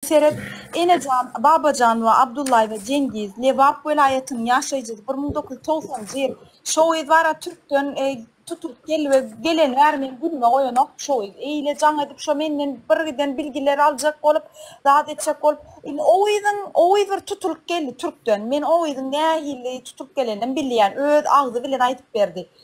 Seret, Enejan, Babajan we Abdullaýewa Jengiz, Lebap welaýatynyň ýaşaýjysy, bir müň dokuz ýüz togsanjy ýyl, Şowyz bara türkden tutulyp geldi we geleni bäri meni günüme goýanok, Şowyz eýle jaň edip şo menden birgiden bilgileri aljak bolup, zat etjek bolup, indi Owyzyň, Owyz bir tutulyp geldi türkden, men Owyzyň nähili tutulyp geleninem bilýän, öz agzy bilen aýdyp berdi.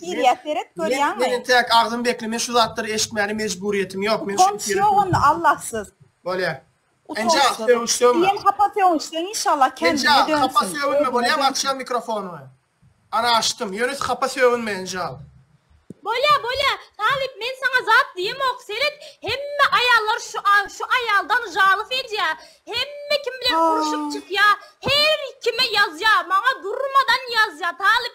Girýä seret görýäňmi? Meni täk agzym bekle men şu zatlary eşitmäne mejburyýetim ýok men şuny Utanç ýok onda Allahsyz. Bolýar. Enja söwüş söwme. Diýen hapa söwünçden inşallah kendine dönsün. Enja hapa söwünme bolýamy açýan mikrofonymy. Ana açdym. Ýöne hapa söwünme enjal. Bolýa bolýa talyp men saňa zat diýemok seret hemme aýallar şu şu aýaldan žalyf edýä hemme kim bilen urşup çykýa her kime ýazýa maňa durmadan ýazýa talyp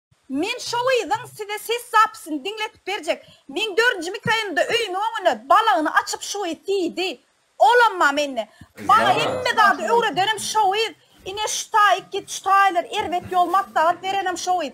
Men şo gyzyň size ses zapisini diňletip berjek. Meň dördünji mikroýonumda öýümiň öňüne balagyny açyp şu gyz diýdi. Olamma mende. Maňa hemme zady öwredenem şo gyz. Ine şu taýyk git şu taýlar erbet ýol maslahat berenem şo gyz.